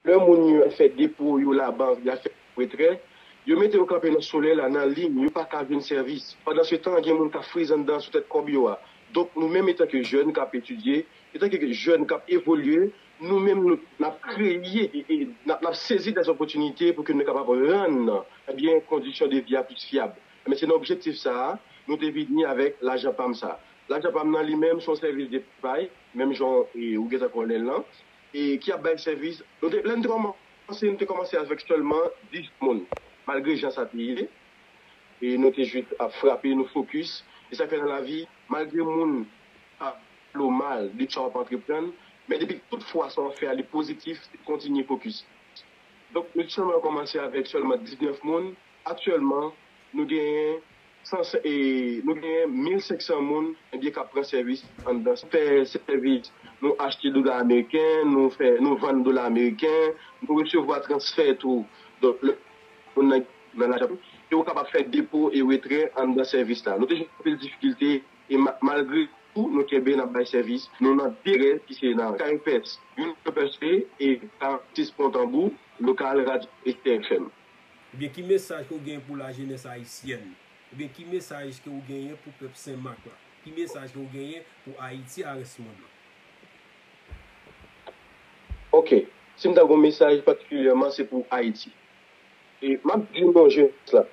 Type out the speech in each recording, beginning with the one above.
Lè moun yo ap fè depo yo labank y ap fè depo retrè, yo mete yo kanpe nan solèy la nan liy, yo pa ka jwenn sèvis. Pandansetan, gen moun k ap friz anndan sou tèt kòb yo a. Donk, nou menm etanke jèn k ap etidye, etanke jèn k ap evolye, nou menm nou, n ap kreye, n ap, n ap sezi dèzòpòtinite pou ke nou kapab rann, ebyen, kondisyon de vi a plis fyab. Ebyen, se nan objektif sa a, nou te vini avèk lajan pa m sa a. Lajan pa m nan li menm se yon sèvis depay, menm jan ou gen tan konnen l lan. e ki ap bay sèvis. Nou te, lè nou te kòmanse, nou te kòmanse avèk sèlman 10 moun, malgre jan sa te ye, e nou te jis ap frape, nou fokis. E sa k fè nan lavi, malgre moun pa pale w mal de sa w ap antreprann, men depi ke tout fwa sa w ap fè a li pozitif, kontinye fokis. Donk, nou te sèlman kòmanse avèk sèlman 19 moun, aktyèlman nou genyen Nou genyen 1500 moun enbyen kap pran sèvis anndan sa. Fè sèvis, nou achte dola ameriken, nou vann dola ameriken, nou resevwa transfè tou dola ameriken nan lajan nou, e ou kapab fè depo e retrè anndan sèvis la. Nou te jwenn anpil difikilte e malgre tou nou kenbe nap bay sèvis nou nan 2 adrès ki se nan Kay Pès, Union Percée e 46 Pont Tambour, lokal Radyo Esther FM. Ebyen ki mesaj ke w genyen pou lajenès ayisyèn? Ebyen ki mesaj ke w genyen pou pèp Sen Mak la? Ki mesaj ke w genyen pou Ayiti a rès mond lan? Ok, si m ta gen yon mesaj patikilyèman se pou Ayiti. E m ap di nou jenès la,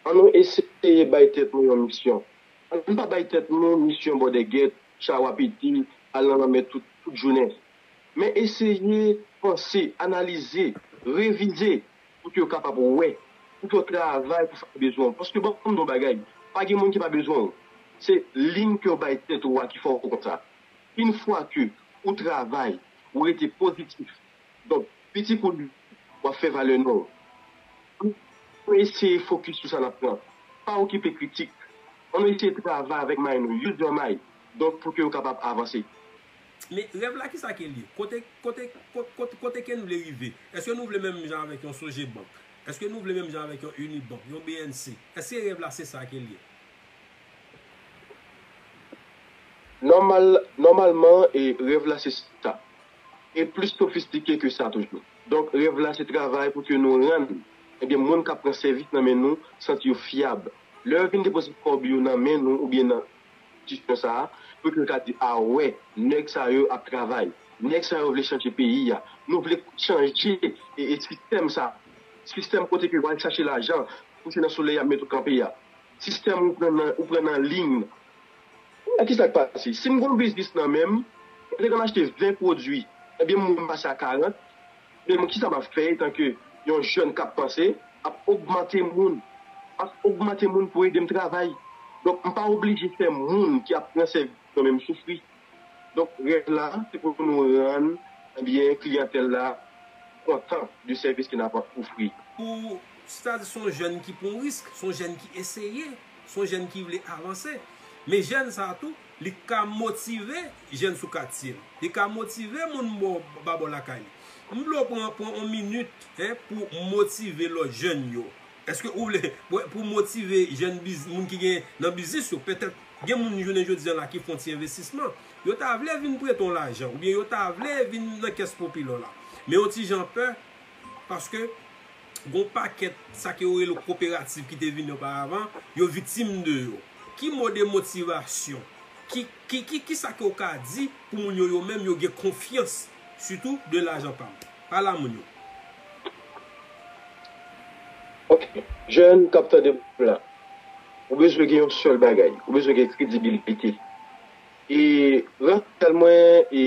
an nou eseye bay tèt nou yon misyon. An n pa bay tèt nou misyon bòdègèt, chawapiti, al nan lanmè tout jounen. Men eseye panse, analize, revize pou ke yo kapab wè, pou ke yo travay pou sa ki bezwen w. Paske banm di w yon bagay, pa gen moun ki pa bezwen w. Se lim ke w bay tèt ou a ki fè w konsa. Yn fwa ke ou travay, ou rete pozitif, donk piti kou gwo, w ap fè valè non w. Annou eseye fokis sou sa n ap pran. Pa okipe kritik. Annou eseye travay avèk may nou, use your mind, donk pou ke yo kapab avanse. Men, rèv la kisa ke l ye? Kote, kote, kot, kot, kote ke n vle rive? Eske nou vle menm jan avèk yon Sogebank? Eske nou vle menm jan avèk yon Unibank, yon bnc? Eske rèv la se sa ke l ye? Nòmal, nòmalman, e, rèv la se sa. E plis sofistike ke sa toujou. Donk, rèv la se travay pou ke nou rann, enben, moun k ap pran sèvis nan men nou santi yo fyab. Lè yo vin depoze kòb yo nan men nou oubyen nan, Distè sa a pou yo ka di a wè nèg sa yo ap travay nèg sa yo vle chanje peyi a nou vle chanje e sistèm sa sistèm kote ke wal chache lajan pou se nan solèy yap met ou kanpe a sistèm ou pran nan ou pran nan liyn kounye a kisa k pase sim gon biznis nan menm mwen te konn achte 20 pwodwi ebyen moun pase a 40. Premyèman, ki sa m ap fè etanke yon jèn k ap panse ap ogmante moun? M ap ogmante moun pou ede m travay. Donk, m pa oblije fè moun ki ap pran sèvis mwen menm soufri. Donk, rèv la se pou nou rann kliyantèl la kontan de sèvis ke n ap ofri. Pou stad, se yon jèn ki pran risk, se yon jèn ki eseye, se yon jèn ki vle avanse. Men jèn sa a tou, Li ka motive jèn sou katye l. Li ka motive moun bò ba bò lakay li. M vle w pran pran on minit hein pou motive lòt jèn yo. Eske ou vle pou motive jèn biz moun ki gen nan biznis yo. Petèt gen moun jounen jodi an la ki fon ti envestisman. Yo ta vle vin prete w lajan oubyen yo ta vle vin nan kès popilò la. Men yon ti jan pè paske. Gon pakèt sa ke yo rele koperativ ki te vini oparavan, yo viktim de yo. Ki mo de motivasyon, ki sa ke ou ka di pou moun yo yo menm yo gen konfyans sitou de lajan pa m. Pale a moun yo. Ok, jèn kap tande m la, ou bezwen gen yon sèl bagay, ou bezwen gen kredibilite. E Rafael mwen e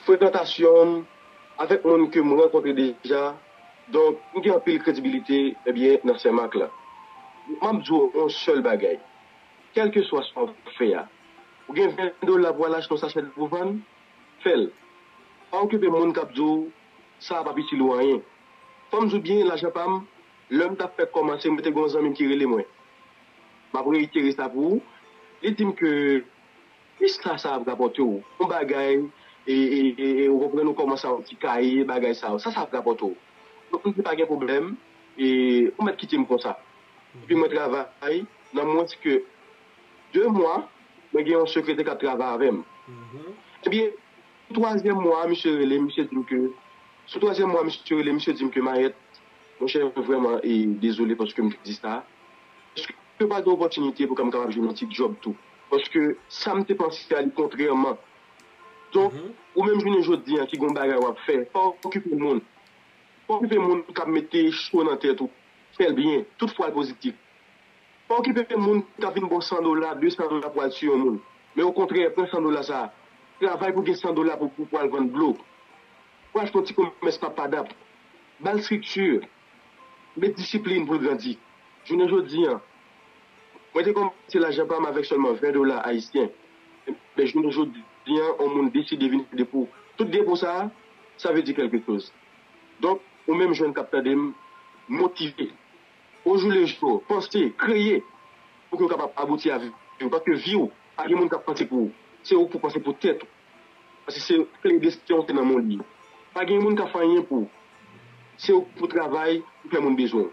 frekantasyon m. Avèk moun ke m rankontre deja, donk m gen anpil kredibilite, ebyen, nan Senmak la. Donk m ap di w yon sèl bagay, kèlkeswa sa w fè a, ou gen 20 dola pou w al achte yon sachè dlo pou w vann, fè l. Pa okipe moun k ap di w sa a p ap itil ou anyen. Fò m di w byen, lajan pa m, lè m t ap fèk kòmanse, mwen te gen yon zanmi m ki rele mwen, m ap reyitere sa pou ou, li di m ke, Ista sa ap rapòte w yon bagay e e ou konprann ou kòmanse a yon ti kaye bagay sa yo. Sa sa ap rapòte w? Donk m di pa gen pwoblèm e ou mèt kite m konsa. Epi mwen travay nan mwens ke 2 mwa mwen gen yon sekretè k ap travay avè m. Ebyen sou twazyèm mwa a misye rele m, misye di m ke sou twazyèm mwa a misye rele m, misye di m ke Mayèt, monchè m vrèman e dezole paske m te di sa, èske ou pa gen opòtinite pou ka m kapab jwenn yon ti djòb tou? Paske sa m te panse a li kontrèman. Donk, ou menm jounen jodi an ki gen yon bagay w ap fè, pa okipe moun. Pa okipe moun k ap mete cho nan tèt ou. Fè l byen, tout fwa l pozitif. Pa okipe moun k ap vin ba w san dola, desan dola pou w al tiye yon moun. Men okontrè, pran san dola sa a, travay pou gen san dola pou w al vann dlo. Pou w al fè yon ti komès papadap. Ba l estrikti. Met disiplin pou l grandi. Jounen jodi an, mwen te kòmanse lajan pa m avèk sèlman 20 dola ayisyen. Enben, jounen jodi an, yon moun deside vin ede pou tout depo sa a, sa vle di kèlke choz. Donk, ou menm jèn k ap tande m, motive ojoulejou, panse, kreye pou ke w kapab abouti a vi w. Paske vi w, pa gen moun k ap panse pou ou. Se ou k pou panse pou tèt ou. Paske se kle desten w se nan men w li ye. Pa gen moun k ap fè anyen pou w. Se ou ki pou travay pou fè moun bezwen w.